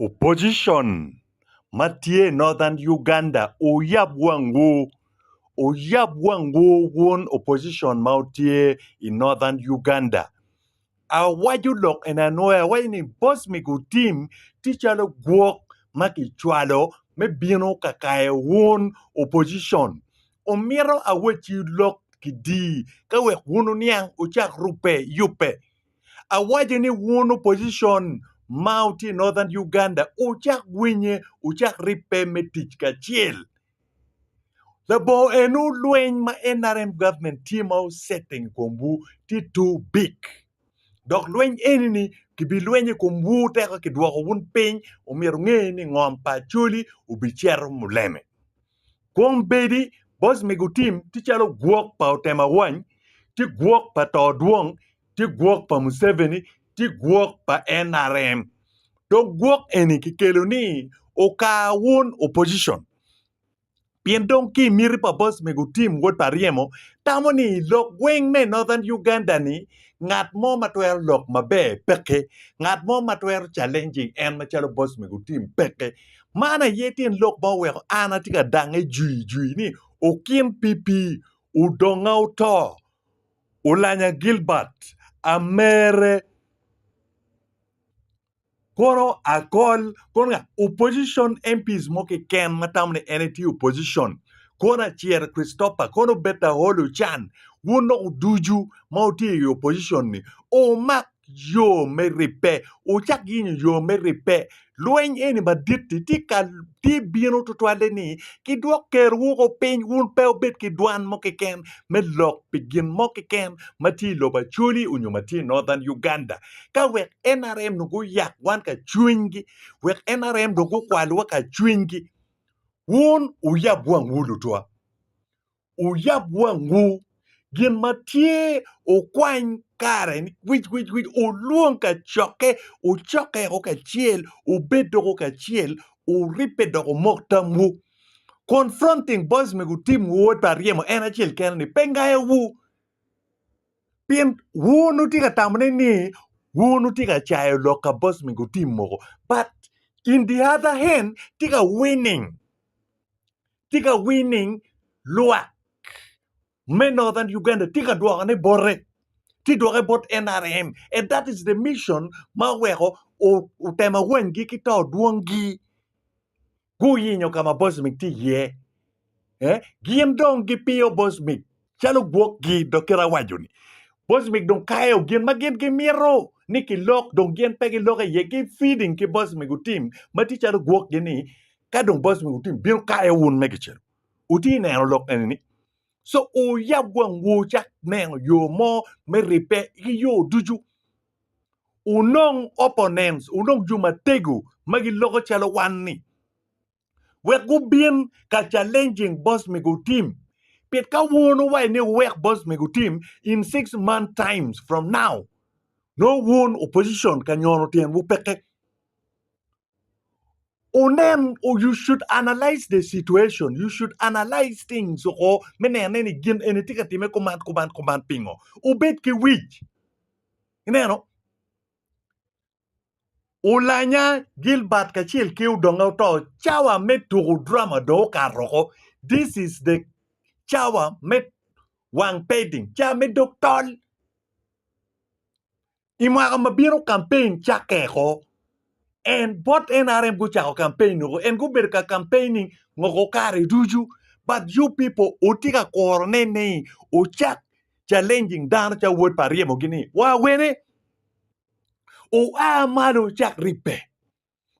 Opposition ma tye i Northern Uganda oyab wangwu, oyab wangwu wun opposition ma wutye i Northern Uganda. Awaco lok eni anwoya, awaco ni boss me gu team tye calo gwok ma kicwalo me bino ka kayo wun opposition. Omito awacciwu lok kidi ka wek wun wuniang wucak rubbe yubbe. Awaco ni wun opposition ma wutye i Northern Uganda wucak winye, wucak ribbe me tic kacel. Labongo eno lweny ma NRM government tye ma osetting i komwu tye too big. Dok lweny eni-ni kibilwenyo i komwu teka kidwoko wun piny omyero wunge ni ngom pa Acholi obicito muleme. Kwong bedi boc me gutim tye calo gwok pa otem awany, tye gwok pa to dwong, tye gwok pa Museveni, tye gwok pa nrm. Dong gwok eni kikelo ni okar wun opposition. Pien dong ki miti pa boc me gutim wod pa ryemo tamo ni lok gweng me Northern Uganda ni ngat mo ma twero lok maber peke, ngat mo ma twero challenging en macalo boc me gutim peke. Man aye tyen lok ma oweko an atye ka dangnge jwiyjwiy ni, Okin pipi, odonga oto, olanya Gilbert, amere, kono akol, kono nga? Opposition MPs mo keken ma tamo ni en aye tye opposition, kono Acer Christopher, kono Betaholi Ochan, wun dok ducu ma wutye i opposition-ni, wumak yo me ribbe, wucak yenyo yo me ribbe. Lweny eni madit-ti tye ka tye bino tutwalle ni kidwok Ker woko piny wun pe wubed ki dwan mo keken me lok pi gin mo keken ma tye i lobo Acholi onyo ma tye i Northern Uganda ka wek nrm dong guyak wan ka cwinygi, wek nrm dong gukwalwa ka cwinygi. Wun wuyab wangwu lutwa. wuyab wangwu, gin ma tye wukwany kare wic wic wic, wulwong kacokke, wucokke woko kacel, wubed doko kacel, wuribbe dok wumok tamwu. Confronting boys me gutimwu wod pa ryemo en acel kene ni pe ngayowu. Pien wun wutye ka tamone ni wun wutye ka cayo lok ka boys me gutim mogo but in the other hand tye ka winning. tye ka winning lwak me Northern Uganda tye ka dwoko ne bote tye dwoke bot NRM and that is the mission ma oweko otemo awanygi ki to dwongi guyinyo ka ma Bosmic tye iye eh? gin dong gipiyo Bosmic calo gwokgi dok kit awaco ni boss mig dong kayo gin ma gin gimito ni kilok dong gin pe giloko iye ki feeding ki boss mig otim ma tye calo gwokgi ni ka dong boss mig otim bino kayo wun me kicelu wuti ineno lok eni ni so wuyab wangwu wucak neno yo mo me ribbe ki yo ducu wunong opponents wunong jo matego ma giloko calo wan ni wek gubin ka challenging boss me gutim pit ka wun uwaco ni wek boss me gutim in six month times from now no wun opposition ka nyono tyen wu peke unen you should analyze the situation you should analyze things oko me nene ni gin eni tye ka time kuman kuman kuman pingo ubed ki wic ineno Ulanya Gilbert kacel ki odonge oto, cawa me tuko drama dong okato oko, this is the cawa me wang painting, cawa me dog tol. I mwaka ma bino campaign cakke oko, en bot nrm gucako campaign oko, en gubedo ka campaigning ngoko kare ducu but you people wutye ka kurone ni wucak challenging dano calo wod pa Aryemogi ni wa wene? Oa malo cak ribbe.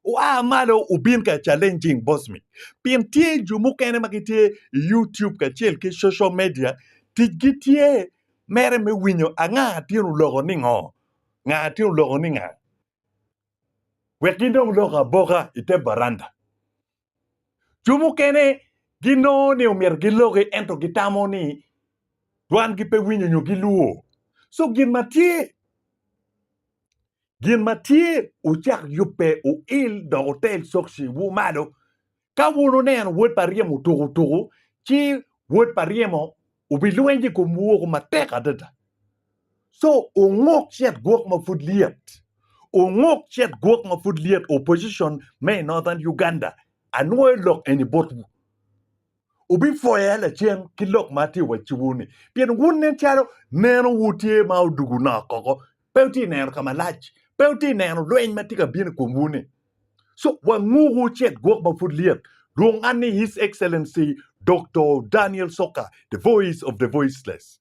Oa malo obin ka challenging boss me. Pien tye jo mukene ma gitye i YouTube kacel ki social media, ticgi tye mere me winyo anga tin oloko ni ngo, nga tin oloko ni nga. Wek gin dong lok aboka i te baranda. Jo mukene ginongo ni omyero giloki ento gitamo ni dwangi pe winyo nyo gilwo. So gin ma tye gin ma tye ucak yubbe uil dok utel sokci wu malo. Ka wun oneno wod pa ryemo tuku tuku ci wod pa ryemo Wubilweny i komwu woko matek adada. So, unguk cet gwok ma pud lyet. Unguk cet gwok ma pud lyet opposition me i Northern Uganda anwoyo lok eni botwu. Wubipwoya lacen ki lok ma atye wa ciwu-ni, pien wun nen calo neno wu tye ma odugu nok koko Pe wutye ka neno ka malac? Pe wutye ka neno lweny ma tye ka bino i komwu-ni? So, wanguku cet gwok ma pud lyet. Lwong an ni His Excellency Doktor Daniel Soka, The Voice of the Voiceless.